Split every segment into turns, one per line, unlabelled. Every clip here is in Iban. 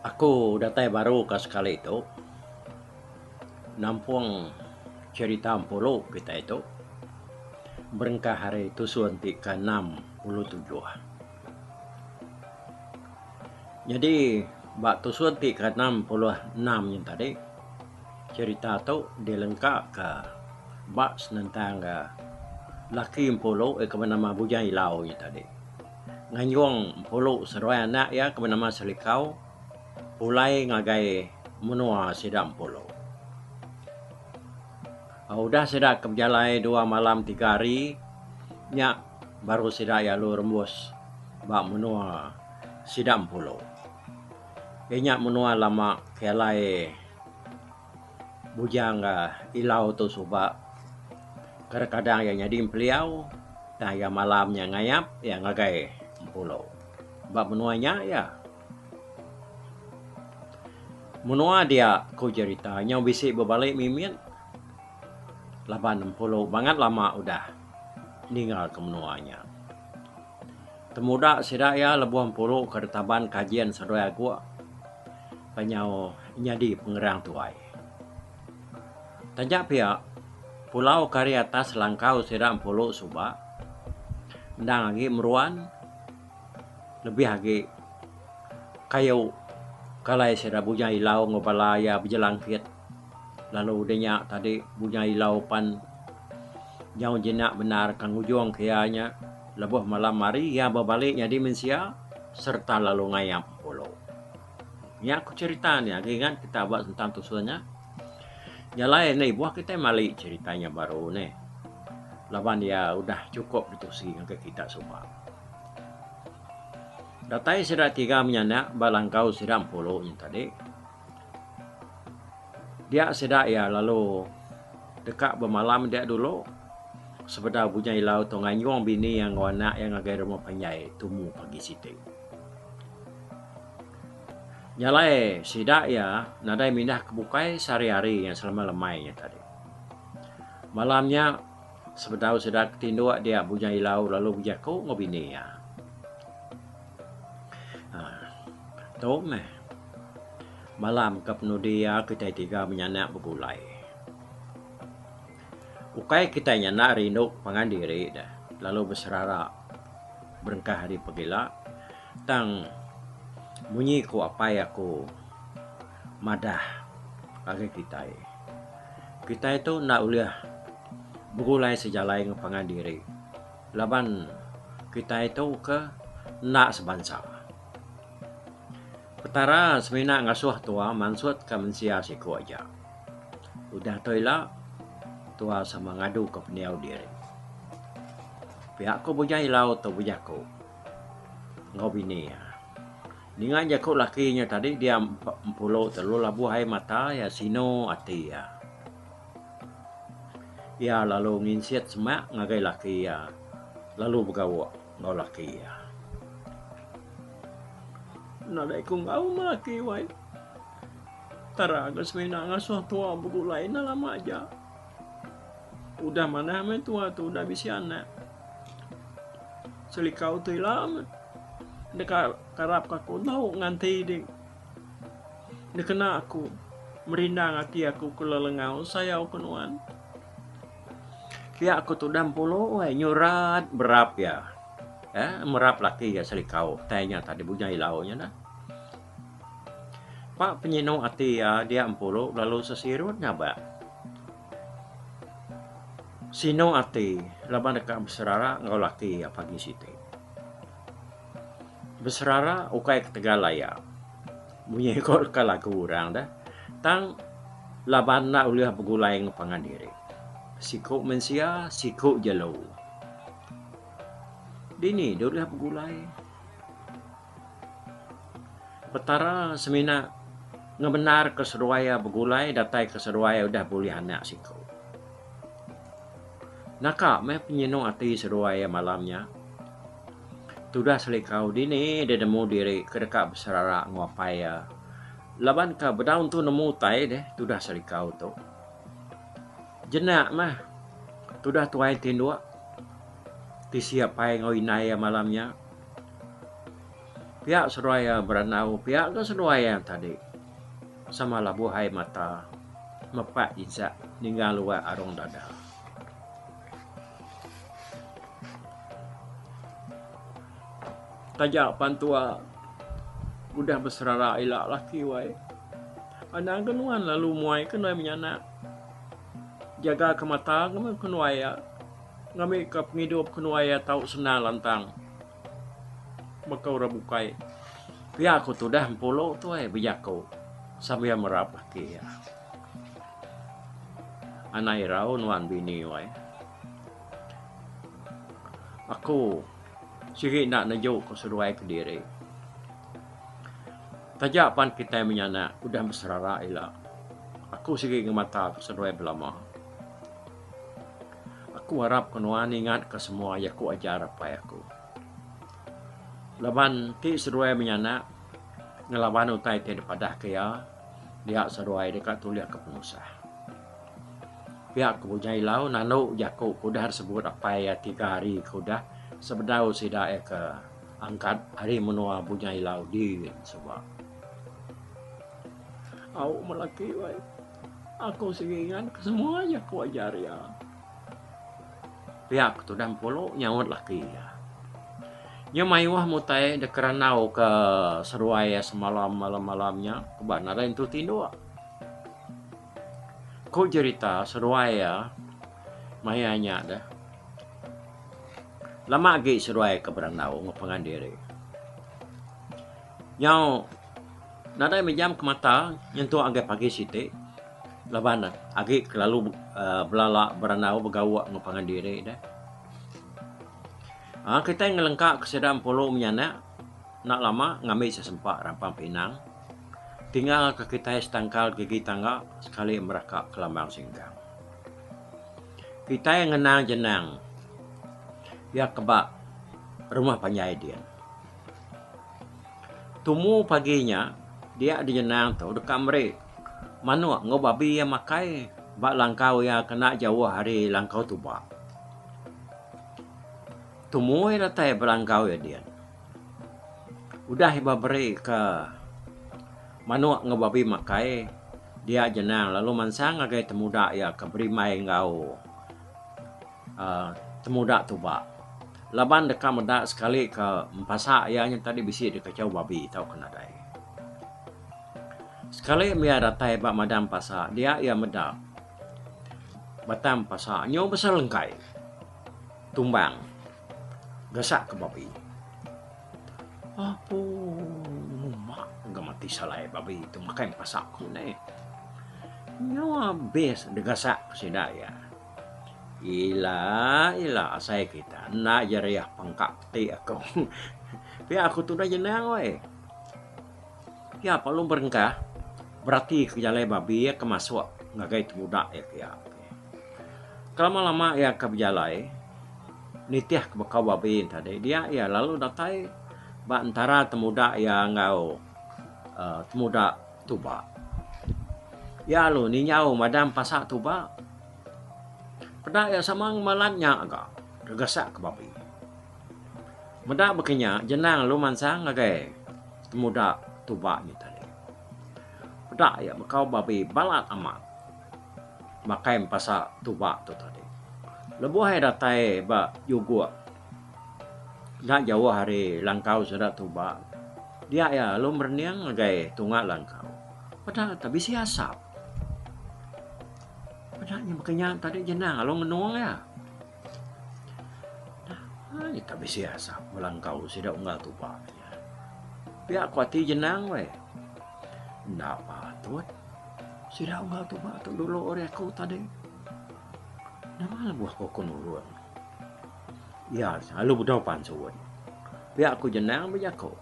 Aku datai baru ka sekali tu nampung cherita empuru kitai tu berengkah ari tusun ti keenam puluh tujuh. Nyadi ba tusung ti ke enam puluh enam nya tadi cerita tu dilengka ka ba senentang ga laki empulu iya ke benama Bujang Ilau nya tadi nganjung empulu seduai anak iya ke benama Selikau pulai ngagai menua sida empulu. Udah sida ke bejalai dua malam tiga hari nya Baru sida iya lalu rembus ba menua sida Empulu. Inya menua lama ke alai Bujang ga Ilau tu suba. Kadang-kadang iya nyadi Empeliau tang iya malam nya ngayap iya ngagai Empulu. Ba menua nya iya. Menua dia ku jerita nyau bisi bebali mimit. Laban Empulu bangat lama udah ninggalka menua nya. Temuda sida iya lebuh Empulu ke ditaban Kajin Seduai Aguk ba nyau nyadi pengerang tuai. Taja pia, pulau ke ari atas langkau sida Empulu suba endang agi meruan lebih agi kayu ke alai sida Bujang Ilau enggau bala iya bejelangkit. Lalu udah nya tadi bunyai ilau pan nyau jinak bendar ka ngujung ke iya nya lebuh malam hari iya bebali nyadi mensia sereta lalu ngayap pulu. Nya ku cherita ne agi ingat kita ba sentang tusun nya. Nya alai enda ibuh kitai mali cherita nya baru neh laban iya udah chukup ditusi ngagai kita suba. Datai sida tiga menyanak ba langkau sida empulu nya tadi Dia sida iya lalu deka bemalam dia dulu sebedau bunya ilau tu nganyung bini iya enggau anak iya ngagai rumah panjai tumu pagi siti. Nya alai sida iya nadai mindah ke bukai sehari-hari nya selama lemai nya tadi. Malam nya sebedau sida ke tinduk dia bunya ilau lalu bejaku enggau bini iya. Tu meh malam ke penudi iya kitai tiga menyanak begulai. Ukai kitai nyanak rindu pangan diri deh lalu beserara berengkah ari pegila tang munyi ku apai aku madah agi kitai. Kitai tu enda ulih begulai sejalai enggau pangan diri. Laban kitai tu ke enda sebansa. Petara semina ngasuh tuah mansutka mensia siku aja. Udah tu ila tuah sama ngaduka pendiau diri. Pia aku bujang ilau tu bujang aku enggau bini iya. Ninga jaku laki nya tadi dia empu empulo telu labuh ai mata iya sinu ati iya. Iya lalu nginsik semak ngagai laki iya lalu begawa enggau laki iya. Nadai ku enggau meh laki wai tara ke semina ngasuh tuwa begulai enda lama aja. Udah manah meh tuwa tu udah bisi anak. Selikau tu ila meh deka karapka ku tau nganti ding. Dikena aku merindang ati aku ke lelengau sayau ke nuan. Pia ke tudah mempulu weh nyurat berap iya. Eh merap laki iya selikau tai nya tadi bujang ilau nya dah. Pak penyinu ati iya dia mempulu lalu sesirut ngabak. Sinu ati laban deka beserara enggau laki iya pagi siti. Beserara ukai ketegal laya. Munyi ko leka lagu orang dah tang laban enda ulih begulai enggau pangan diri. Siku mensia siku jelu. Dini deh ulih begulai. Petara semina ngebenarka seduai iya begulai datai ke seduai iya udah bulih anak siku. Naka meh penyenung ati seduai iya malam nya. Tudah selikau dini deh nemu diri ke deka beserara enggau apai iya. Laban ka bedau tu nemu utai deh tudah selikau tu. Jena meh tudah tuai ti endur tisi apai enggau indai iya malam nya. Pia seduai iya berandau, pia ka seduai iya tadi. Sama labuh ai mata. Mepak jejak ninggang luak arung dada. Taja pan tua udah beserara ila laki wai. Anang ke nuan lalu muai ke nuai menyanak. Jaga ke mata ke nuai ya. Ngambika pengidup ke nuai ya tau senang lantang. Baka orang bukai pia aku tudah mepulu tu ai bejaku sambil merap aki iya. Anak irau nuan bini wai. Aku sigi enda neju ku seduai kediri. Taja pan kitai menyanak udah beserara ila aku sigi ngemata ku seduai belama. Aku arap ke nuan ingat ke semua iya ku ajar apai aku. Laban ti seduai menyanak ngelaban utai ti dipadah ke iya dia seduai deka tulih ke penusah. Pia ku Bunya Ilau nalu jaku ke udah disebut apai iya tiga hari ke udah sebedau sida iya ke angkat ari menua Bunya Ilau di suba. Au melaki wai. Aku sigi nganak semua jaku ajar iya. Pia ke tudah Empulu nyaut laki iya. Iya mayuh mutai deka randau ke seruai iya semalam malam-malam nya kuban arai entu tinduk. Ku jerita seruai iya maya nya deh lama agi seruai ke berandau ngepengan diri. Nyau. Nadai mejam ke mata nyentuk ngagai pagi siti laban agi kelalu belala berandau begauk enggau pangan diri deh. Aaa kitai ngelengka ke sida empuru menya nya enda lama ngambi sesempa rampang pinang tinggal ke kitai setangkal gerigi tangga sekali meraka ke lambang singkang. Kitai ngenang jenang iya ke ba rumah panjai din. Tumu pagi nya dia dijenang tu deka meri manok enggau babi iya makai ba langkau iya kena jauh ari langkau tuba. Tumu iya datai ba langkau iya dian udah iba beri ka manok enggau babi makai dia jenang lalu mansang ngagai temuda iya ke berimbai enggau. temuda tu ba laban deka meda sekali ka empasa iya nyau tadi bisi dikachau babi tauka nadai. Sekali mih iya datai ba madang empasa dia iya meda batang empasa nyau besai lengkai tumbang gasak ka babi. Apu uma ga mati salai babi tu makai empasa ku neh. Nyau abis digasak sida iya. Ila ila asai kita enda je riah pengka peti aku. Pia aku tu udah jenang weh. Pia pak long berengkah berati ke jalai babi iya ke masuk ngagai temuda iya pia. Kelama lama iya ke bejalai nitih ke bekau babi yen tadi dia iya lalu datai ba entara temuda iya enggau aaa temuda Tuba. Iya alu ninyau madam pasa tuba. Peda iya sama ngemalan nya ga gegasak ke babi. Meda baka nya jenang alu mansang ngagai temuda tuba nya tadi. Peda iya bekau babi balat amat makai empasa tuba tu tadi. Lebuh iya datai ba juguk. Enda jauh ari langkau sida tuba dia iya lalu merening ngagai tunga langkau peda nya tu bisi asap peda nya baka nya tadi jenang lalu ngenung iya enda nya tu bisi asap ba langkau sida unggal tuba pia ku ati jenang weh enda patut sida unggal tuba tu dulu ari aku tadi nama lebuh ku nurung. Iya selalu bedau pan serun. Pia ku Jenang bejako.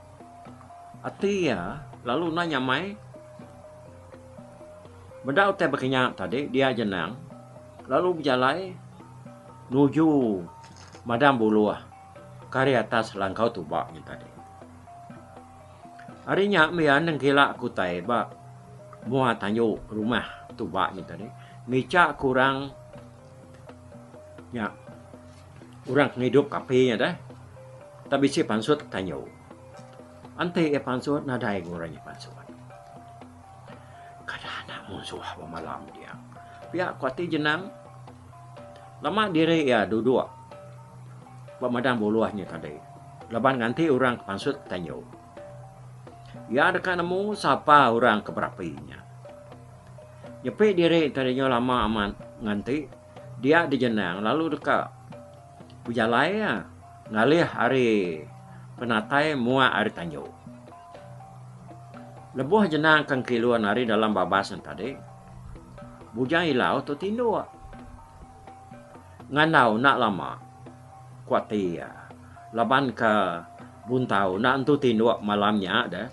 Ati iya lalu endang nyamai. Meda utai bekenya tadi dia Jenang lalu bejalai nuju Madang Buluh ke ari atas langkau tuba nya tadi. Ari nya mih nengkila ke utai ba mua tandu rumah tuba nya tadi ngicha ke orang Nya. Orang ke ngidup api nya deh tak bisi pansut kayu. Enti iya pansut nadai guna iya pansut. Kada anak munsuh bemalam dia. Pia ku ati jenang lama diri iya duduk ba madang buluh nya tadi laban nganti orang ke pansut kayu. Iya deka nemu sapa orang ke berapi inya. Nyepi diri enti dinyau lama amat nganti dia dijenang lalu deka bejalai iya ngalih ari penatai muak ari tanju. Lebuh jenang ke engkilun ari dalam babas nya tadi, Bujang Ilau tu tinduk. Ngandau enda lama, ku ati iya. Laban ka buntau enda entu tinduk malam nya deh.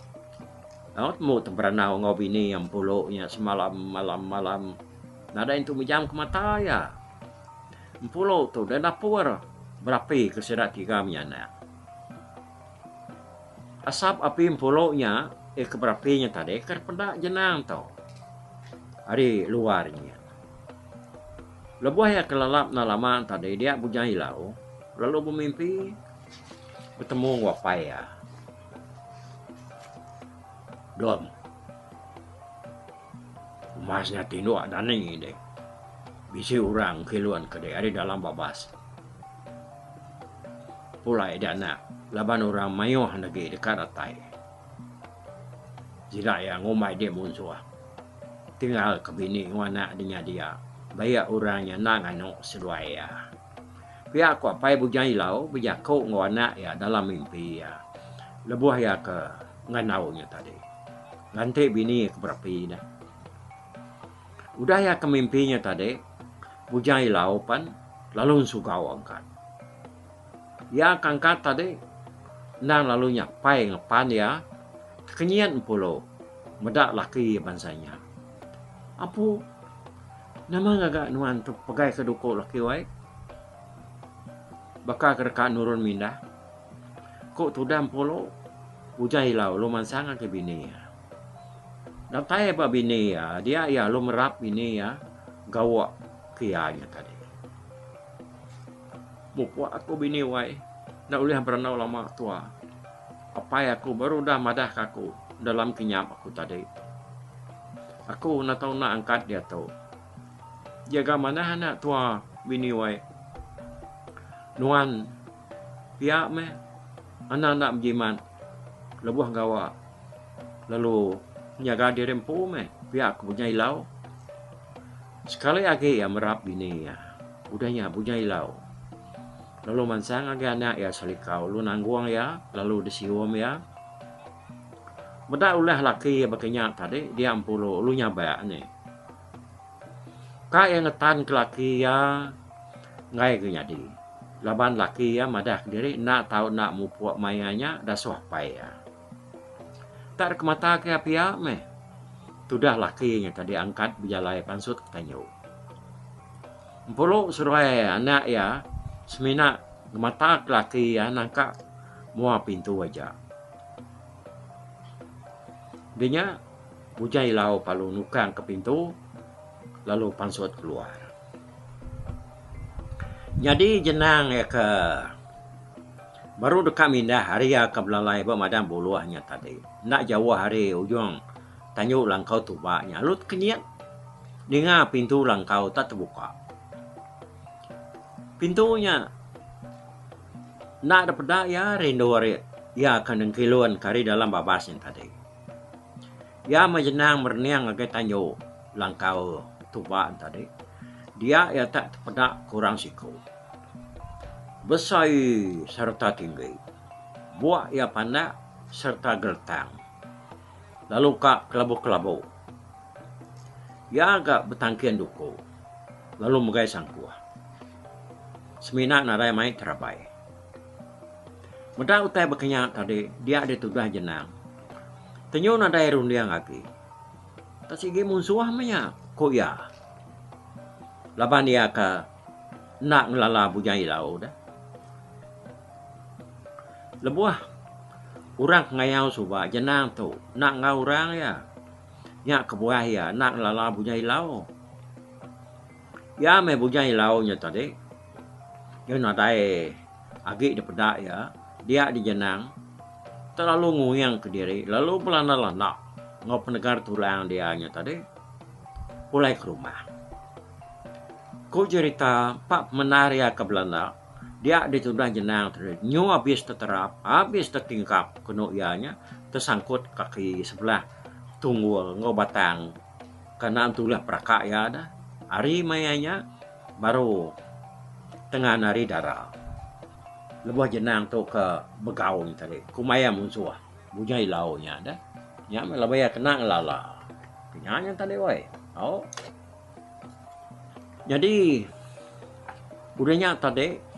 Daud embu tu berandau enggau bini iya empulu nya semalam malam malam. Nadai entu mejam ke mata iya. Empulu tu deh napur berapi ke sida tiga menyanak. Asap api empulu nya iya ke berapi nya tadi ke peda jenang tu ari luar nya. Lebuh iya kelalap enda lama tadi dia Bujang Ilau lalu bemimpi betemu enggau apai iya. Don. Mas nya tinduk dani deh. Bisi orang kilun ke deh ari dalam babas. Pulai dia anak laban orang mayuh lagi deka datai. Sida iya ngumbai dia munsuh. Tinggal ke bini enggau anak di nya dia. Baik orang nya endang nganu seduai iya. Pia ku Apai Bujang Ilau bejaku enggau anak iya dalam mimpi iya lebuh iya ke ngandau nya tadi. Lantik bini ke berapi nya. Udah iya ke mimpi nya tadi, Bujang Ilau pan lalu ensugau angkat. Iya kangkat tadi endang lalu nyapai enggau pan iya tekenyit empulo meda laki bansa inya. Apu nama ngaga nuan tu pegai ke duko laki wai baka ke deka nurun mindah ko tudah empulo ujan ila ulu mansang agi bini iya. Datai ba bini iya dia iya lalu merap bini iya gawa ke iya nya tadi. Mupuk aku bini wai enda ulih berandau lama tua. Apai aku baru udah madahka aku dalam kinyap aku tadi. Aku enda tau enda angkat diatu. Jaga manah anak tua bini wai. Nuan pia meh anak enda bejimat lebuh gawa lalu nyaga diri empu meh pia aku nyailau. Sekali agi iya merap bini iya, udah nya Bunyai Ilau lalu mansang agi anak iya Salikau lalu nanggung iya lalu disium iya. Meda ulah laki iya baka nya tadi dia empu lalu nyabak nya. Ka iya ngetanka laki iya enggai ga nyadi laban laki iya madah diri enda tau enda mupuk maya nya dasuh apai iya. Enda ada ke mata ke iya pia meh. Tudah laki nya ke diangkat bejalai pansut ke tanyu. Empuru seduai anak iya semina ngemata ke laki iya nangka mua pintu aja. Di nya Bujang Ilau lalu nukang ke pintu lalu pansut keluar. Nyadi jenang iya ke. Baru deka mindah ari ka belalai ba Madang Buluh nya tadi. Enda jauh ari ujung tandu langkau tuba nya lalu tekenyit ninga pintu langkau tak tebuka. Pintu nya enda dipeda iya rindu ari iya ke nengkilun ke ari dalam babas nya tadi. Iya meh jenang merening ngagai tanyu langkau tuba entadi. Dia iya tak tepeda kurang siku. Besai sereta tinggi. Buk iya pandak sereta geretang lalu ka kelabu-kelabu. Iya ga betangkin duku lalu megai sangkuh semina nadai mai terabai. Meda utai bakanya tadi dia ditudah jenang. Tenyu nadai runding agi. Tang sigi munsuh meh iya, ku iya. Laban iya ke enda ngelala bujai ilau deh. Lebuh orang ke ngayau suba jenang tu enda enggau orang iya, nya kebuah iya enda ngelala bujai ilau. Iya meh bujai ilau nya tadi, iya nadai. Agi dipeda iya, dia dijenang telalu nguingka diri lalu belanda-landa enggau penegar tulang dia nya tadi pulai ke rumah. Ku cherita empa pemendar iya ke belanda, dia ditudah jenang tadi nyu abis teterap, abis tetingkap kenu iya nya tesangkut kaki sebelah tunggul enggau batang Kanan tu ulah peraka iya da. Ari maya nya baru tengan ari dara. Lebuh jenang tu ke begaun tadi ku maya munsuh bujang ilau nya da. Nya meh laban iya kena ngelala. Nya nya tadi woi. Au. Nyadi udah nya tadi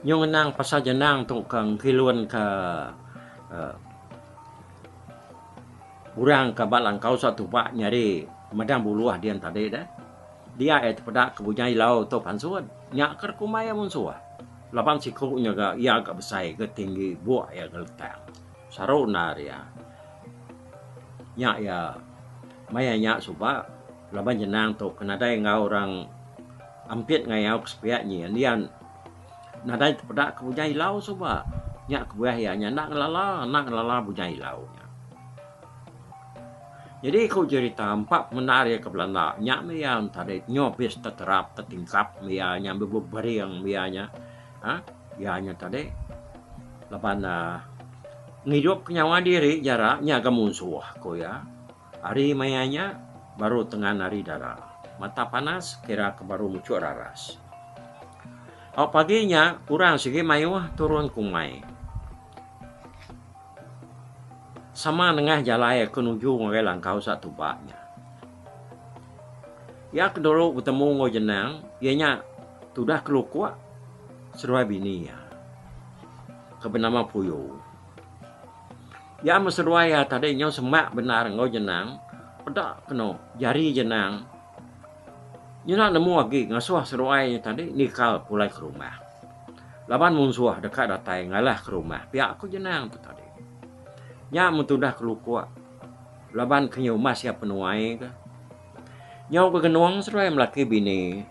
nyau ngenang pasal jenang tu ke ngkilun ke uhh. Orang ka ba langkau sa tupak nyadi medang buluh din tadi deh. Dia iya tepeda ke bunyai ilau tu pansut. Nya ke rekumbai iya munsuh. Laban siku nya ga iya ga besai ga tinggi buk iya ga letang. Saru endar iya. Nya iya maya nya suba laban jenang tu ke nadai enggau orang ampit ngayau ke sepiak nyin. Iya. Nadai tepeda ke bujai ilau suba. Nya kebuah iya nya enda ngelala, enda ngelala bujai ilau nya. Nyadi ku jerita empa pemendar iya ke belanda nya meh iya entadai nyobis teterap tetingkap meh iya nya meh bebering meh iya nya. Ha iya nya tadi laban uhh ngidupka nyawa diri jara nyaga munsuh ku iya. Ari maya nya, baru tengan ari dara. Mata panas, kira ke baru muchuk raras. Au pagi nya, kurang sigi mayuh turun ke umai. Sama nengah jalai ke nuju ngagai langkau sa tuba nya. Iya ke dulu betemu enggau Jenang, iya nya tudah kelukuk seduai bini iya ke benama Puyu. Iya meseduai iya tadi nyau semak bendar enggau jenang peda keno jari jenang nyena nemu agi ngasuh seduai iya tadi nikal pulai ke rumah. Laban munsuh deka datai ngalah ke rumah pia ku jenang tu tadi. Nya metudah kelukok laban ke nyumas iya penuai ke. Nyau begenong seduai melaki bini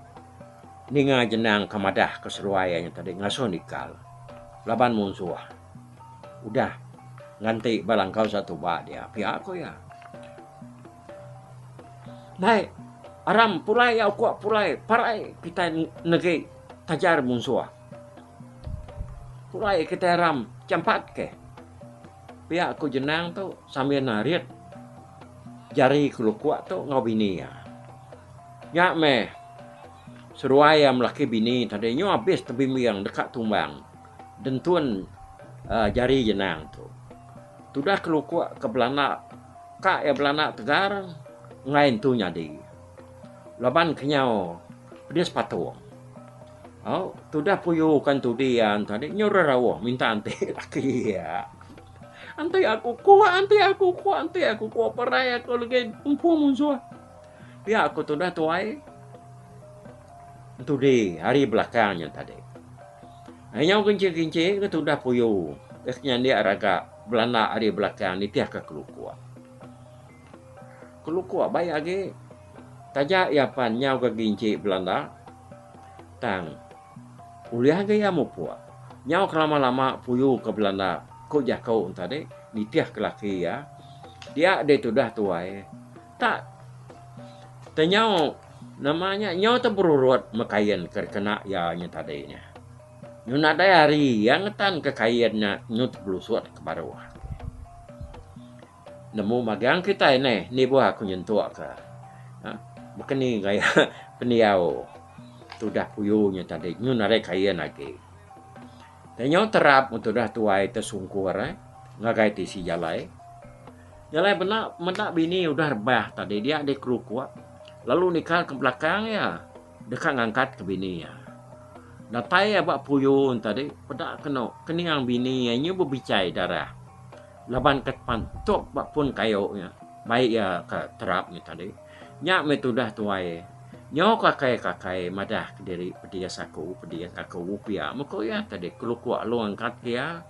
ninga jenang ke madah ke seduai iya tadi ngasuh nikal laban munsuh. Udah. Nganti ba langkau satu ba dia pia ko iya. Dai, aram pulai ya ukok pulai parai kitai negi tajar munsuh. Pulai kitai aram champat ke. Pia ko jenang tu sambil narit jari ke lukok tu ngau bini iya. Nya meh seruai iya melaki bini tadi nyu abis tebimbing deka tumbang. Dentun jari jenang tu. Tudah kelukuk ke belana ka iya belana tegar enggai entu nyadi. Laban kenyau pedis patung. Au tudah puyuka entudi iya tadi nyu rerauh minta enti laki iya. Enti aku kuk enti aku kuk enti aku kuk perai aku legi empu munsuh. Pia ku tudah tuai. Entudi ari belakang nya tadi. Nyau kinci-kinci ke tudah puyu ke senyandik raga belanda ari belakang nitihka kelukuk. Kelukuk baik agi taja iya pan nyau ke kinci belanda tang ulih agi iya mupuk. Nyau ke lama-lama puyu ke belanda ku jaku enti tadi nitihka laki iya dia deh tudah tuai. Tak. Tenyau nama nya nyau teberurut me kain ke dikena iya nya tadi nya. Nyu nadai hari iya ngetanka kain nya nyu tebelusut ke baruh. Nemu magang kitai neh nibuh aku nyentukka ha baka ni gaya pendiau tudah puyu nya tadi nyu nadai kain agi. Tenyau terap tudah tuai te sungkur eh ngagai tisi jalai. Jalai bela meda bini udah rebah tadi dia dikerukuk lalu nikal ke belakang iya deka ngangkat ke bini iya. Datai iya ba puyun tadi peda keno keningang bini iya nyu bebichai darah laban ke pan tok ba pun kayu nya bai iya ke terap nya tadi. Nya meh tudah tuai nyu kakai-kakai madah kediri pedis aku pedis aku pia meh ko iya tadi kerukuk lalu ngangkat ke iya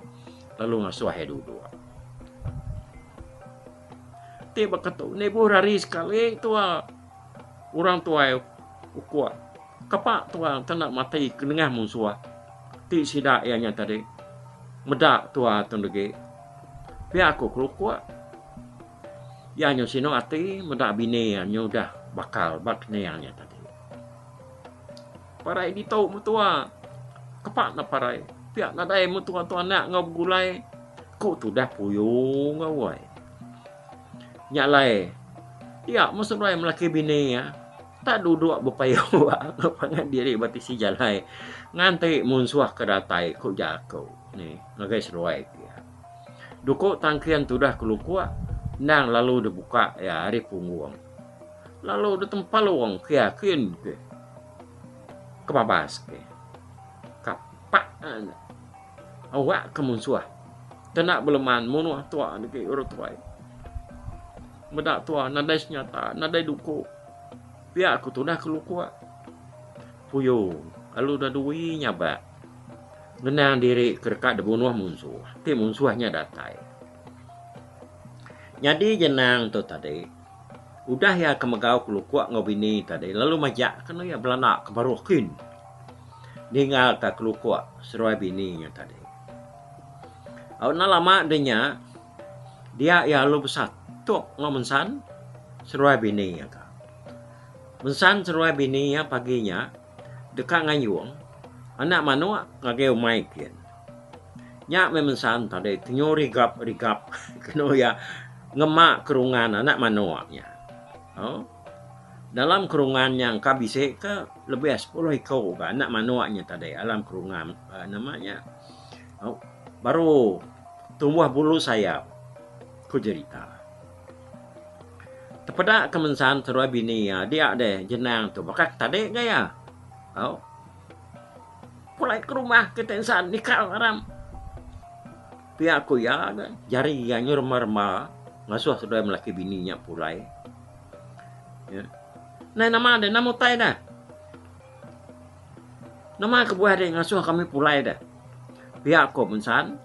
lalu ngasuh iya duduk. Ti baka tu enda ibuh rari sekali tua orang tuai ukok kapa tua enda tau mati ke nengah munsuh ti sida iya nya tadi meda tua tu enda agi pia ku ukok iya nya sinu ati meda bini iya nya udah bakal ba keninga iya tadi. Parai ditu metua. Kepak nda parai. Pia nadai metua tu anak enggau begulai. Ku tudah puyu enggau wai. Nya alai. Iya meh seduai melaki bini iya. Tak duduk bepayu enggau pangan diri ba tisi jalai. Nganti munsuh ke datai ku jaku ni ngagai seduai ke iya. Duku tangkin tudah kelukuk endang lalu dibuka iya ari punggung. Lalu udah tempal wong ke yakin ke. Kebabas ke. Kapak anda. Awak ke munsuah. Kena beleman munuh tua ni ke urut tuai. Medak tua nadai senyata, nadai duku. Pia aku tudah ke lukua. Puyo, lalu udah dui nyabak. Ngenang diri ke deka dibunuh munsuh. Ti munsuh nya datai. Nyadi Jenang tu tadi udah iya ke megau kelukok enggau bini tadi lalu majak ke anu iya belanda ke baruh kin ninggal ka kelukok seruai bini iya tadi. Au enda lama deh nya dia iya lalu besatuk enggau Mensang seruai bini iya ka. Mensang seruai bini iya pagi nya. Deka ngayung anak manok ngagai umai kin. Nya meh mensan tadi tenyo rigap rigap keno iya ngema kerungan anak manok nya. Au dalam kerungan nya engka bisi ke lebih ari sepuluh iko ga anak manok nya tadi dalam kerungan nama nya au baru tumbuh bulu sayap ku jerita. Tepeda ke mensan seruai bini iya dia deh jenang tu baka ke tadi ga iya. Au. Pulai ke rumah kita insan nikal aram. Pia ku iya ga jari iya nyuruh rema rema ngasuh seduai laki bini nya pulai. Ya. Nai nama deh nama utai deh. Nama kebuah deh ngasuh kami pulai deh. Pia ku mensan.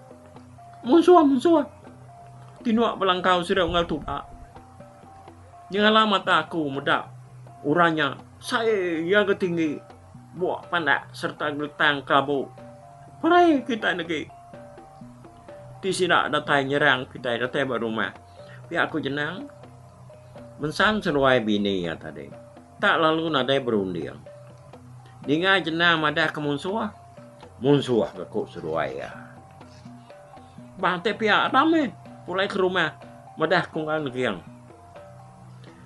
Munsuh, munsuh! Tinua belangkau sida unggal tuba. Nyengala mata aku meda orang nya sai iya ga tinggi bua pandak sereta geletang kelabu. Perai kitai negi ti sida datai nyerang kitai datai ba rumah pia ku Jenang. Mensan seduai bini iya tadi tak lalu nadai berunding. Ninga Jenang madah ke munsuh. Munsuh ke ku seduai iya. Ba ti pia Adam mih pulai ke rumah meda ku ngan Geng.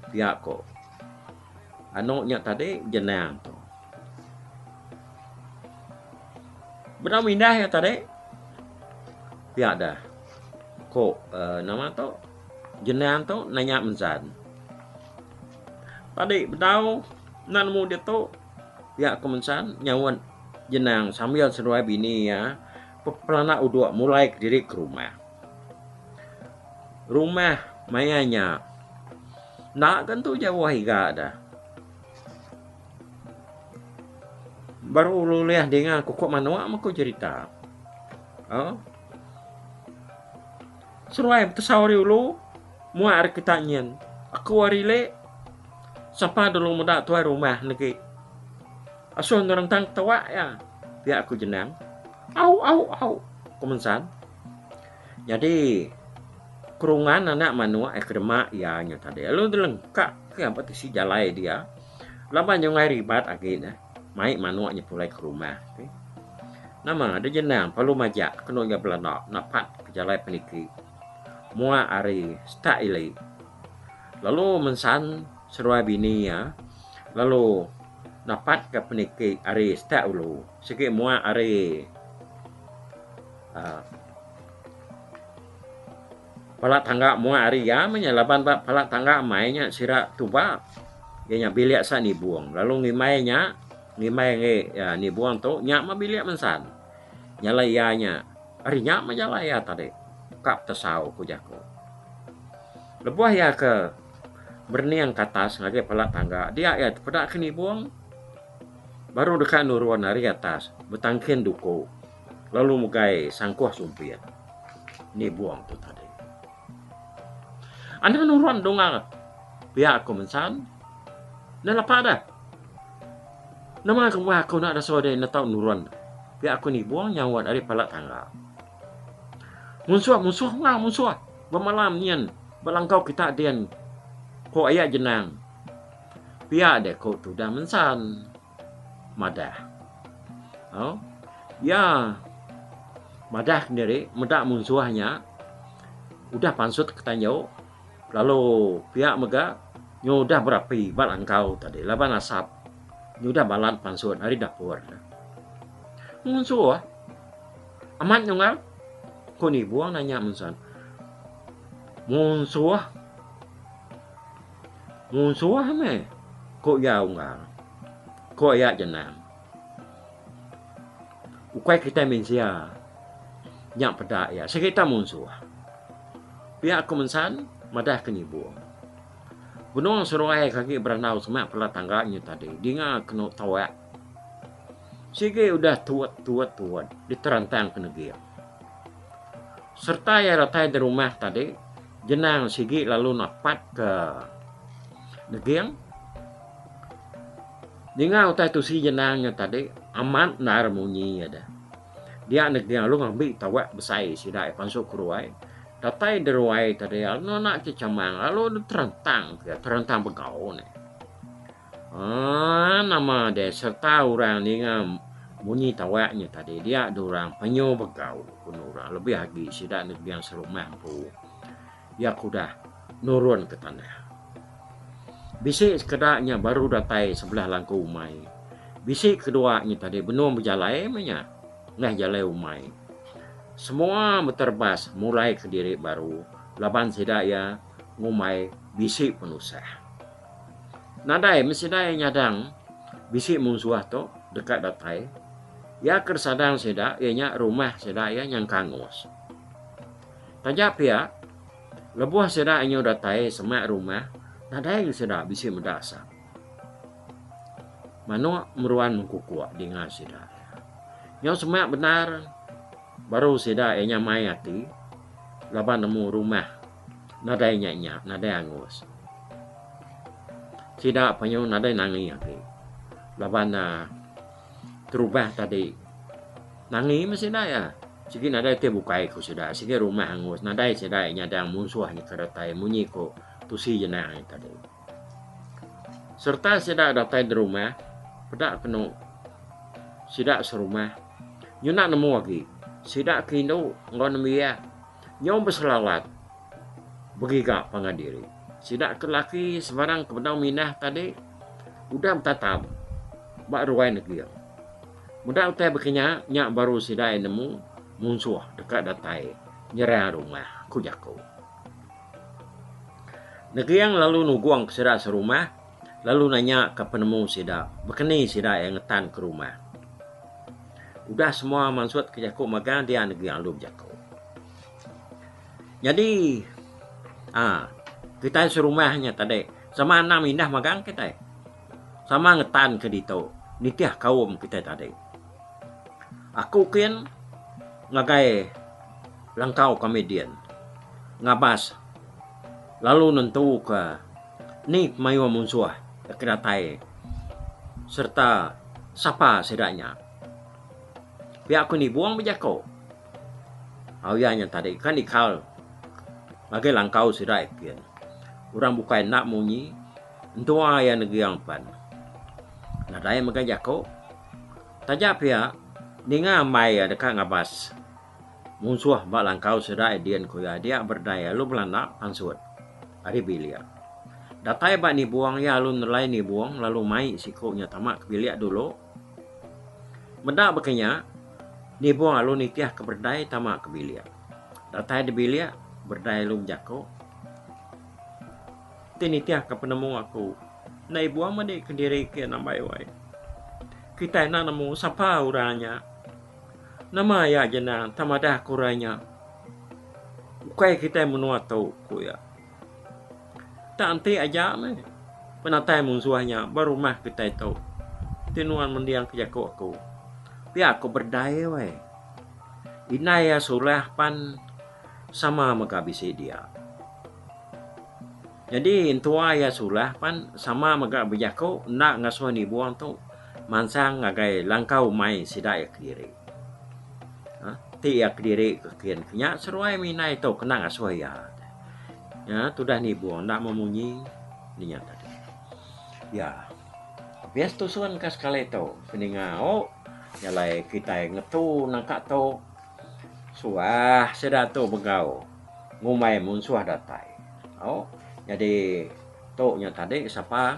Pia ku anu nya tadi Jenang tu. Bedau mindah iya tadi pia deh ku uhh nama tu Jenang tu nanya Mzan. Tadi bedau enda nemu ditu. Pia aku mensan nyaut Jenang sambil seduai bini iya pepelana uduk mulai kediri ke rumah. Rumah maya nya enda ke entu jauh iga dah. Baru ulih dinga kuku manuk meh ku jerita. Au. Seduai betesau ari ulu. Muak ari kitak nyin. Aku ari lek. Sapa dulu muda tuai rumah negi. Asoh ngerentang ketuak iya. Piak aku jenang. Au au au. Ku mensan. Nyadi kerungan anak manuk ai ke demak iya nya tadi lalu dilengkak ke ba tisi jalai dia laban nyungai ribat agi ne mai manuk nya pulai ke rumah nama da jenang pelu majak kenu iya belanda napat ke jalai peniki. Mua ari stat ili. Lalu mensan seruai bini iya lalu dapat ka peniki ari stat ulu sigi mua ari uh, pala tangga mua ari iya menya laban ba pala tangga mai nya sira tuba iya nya bilik sa nibung lalu ngimbai nya ngimbai ngi uh, nibung tu nya mah bilik mensan. Nyalai iya nya ari nya meh nyalai iya tadi ka betesau ku jaku. Lebuh iya ke berening ke atas ngagai pala tangga dia iya peda ke nibung baru deka nurun ari atas betangkin duku lalu mugai sangkuh sumpit nibung tu tadi. Anu nurun dunga pia ku mensan ne lepa deh. Nama kemah aku enda ada suah deh enda tau nurun pia aku nibung nyawa enda deh pala tangga. Munsuh munsuh mah munsuh bemalam nyin belangkau kita din ko aya jenang pia deh ko tudah mensan madah. Au ya madah kendiri meda munsuh nya udah pansut ketanjau. Lalu pia mega nyu udah berapi ba langkau tadi laban asap nyu udah balat pansut ari dapur. Ngunsu ah. Amat nyungau. Ku Nibong nanya mensan. Ngunsu ah. Ngunsu ah meh. Ku iya unggal. Ku ayak jenang. Ukai kitai mensia nya peda iya sereta munsuh. Pia aku mensan madah ke nyibung. Benung seruai ke agi berandau semak pela tangga nyu tadi dinga kenu tawak sigi udah tuot tuot tuot diterantang ke neging. Serta iya datai di rumah tadi jenang sigi lalu napat ke neging. Ninga utai tu si Jenang nya tadi amat endar munyi iya deh. Dia neg Ding Aluh ngambi tawak besai sida iya pansut ke ruai. Datai di ruai tadi lalu nona ti chamang lalu deh terentang ke terentang begau ne. Ah nama deh serta orang ninga munyi tawak nya tadi dia deh orang penyu begau ku orang lebih agi sida neg Ding Serumah empu. Iya ke udah nurun ke tanah. Bisi sekeda nya baru datai sebelah langku umai. Bisi kedua nya tadi benung bejalai meh nya ngah jalai umai. Semua beterbas mulai ke diri baru laban sida iya ngumbai bisi penusah. Nadai meh sida iya nyadang bisi munsuh tu deka datai. Iya ke disadang sida iya nya rumah sida iya nyengkangus. Taja pia, lebuh sida inyu datai semak rumah, nadai ngan sida bisi meda asap. Manuk meruan mengkukuk dinga sida. Nyau semak bendar baru sida iya nya mai ati laban nemu rumah nadai nya-nya, nadai angus. Sida penyu nadai nangi agi laban uhh. terubah tadi. Nangi meh sida iya. Sigi nadai ti bukai ku sida. Sigi rumah angus. Nadai sida nyadang munsuh nyekar datai munyi ku Tusi Jenang nya tadi. Sereta sida datai di rumah, peda kenu sida serumah nyunak nemu agi. Sida ke indu enggau nembiak. Nyau beselawat begiga pangan diri. Sida ke laki sebarang ke bedau minah tadi udah betatap ba ruai neging. Meda utai bekinya nya baru sida iya nemu munsuh deka datai nyerang rumah, ku jaku. Neging lalu nugungka sida serumah. Lalu nanya ka penemu sida, bekeni sida iya ngetan ke rumah. Udah semua mansut ke jaku magang dia negi alu bejaku. Nyadi aa kitai serumah nya tadi sama anang mindah magang kitai. Sama ngetan ke ditu nitih kaum kitai tadi. Aku kin ngagai langkau kami din ngabas lalu nentuka. Ni pemayuh munsuh ke datai sereta sapa sida nya? Pia ku ni Buong bejako. Au iya nya tadi kan ikal ngagai langkau sida ipin. Orang bukai enda munyi entua iya negiang pen. Nadai mega jako. Taja pia ninga ambai iya deka ngabas. Munsuh ba langkau serai din ku iya dia berdai alu belanda pansut ari bilik. Datai ba nibung iya alu nelai nibung lalu mai siku nya tama ke bilik dulu. Meda baka nya nibung alu nitih ke berdai tama ke bilik. Datai di bilik berdai alu bejaku ti nitih ke penemu aku enda ibung madi ke diri ke nambai wai. Kitai enda nemu sapa orang nya. Nama iya je endang entang madah aku orang inya. Ukai kitai menua tu, ku iya. Tak enti aja meh penatai munsuh inya ba rumah kitai tu. Ti nuan mending ke jaku aku. Pia ku berdai weh. Indai iya sulah pan sama mega bisi dia. Nyadi entua iya sulah pan sama mega bejaku enda ngasuh nibung tu mansang ngagai langkau umai sida iya kediri. Ti iya kediri ke kin ke nya seruai mih indai tu kena ngasuh iya. Nya tudah nibung enda meh munyi nya nya tadi. Iya habis tusun ka sekali tu seninga o jalai kitai ngetu nangka tu suah sida tu begau. Ngumbai munsuh datai. Au, nyadi tu nya tadi sapa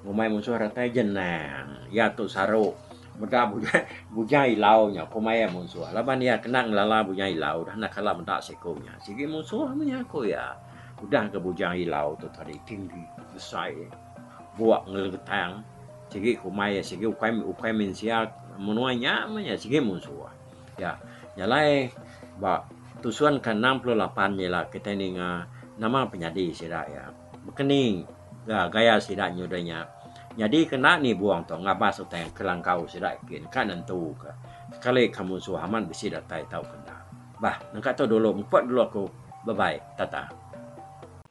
ngumbai munsuh datai jenang. Iya tu saru meda bujang bujang ilau nya ku maya munsuh. Laban iya kena ngelala bujang ilau dah enda kala meda siku nya. Sigi munsuh meh iya ku iya. Udah ke bujang ilau tu tadi tinggi besai buk ngelengetang sigi ku maya sigi ukai ukai mensia menua nya meh iya sigi munsuh. Ya, nya alai ba tusun ke enam puluh lapan nya ila kitai ninga nama penyadi sida iya bekeni gaya sida nyudah nya nyadi ke enda nibung tu ngabas utai kelangkau sida gin ka nentu ke sekali ka musuh amat bisi datai tauka enda. Bah nengka tu dulu muput dulu aku. Bye bye. Tata.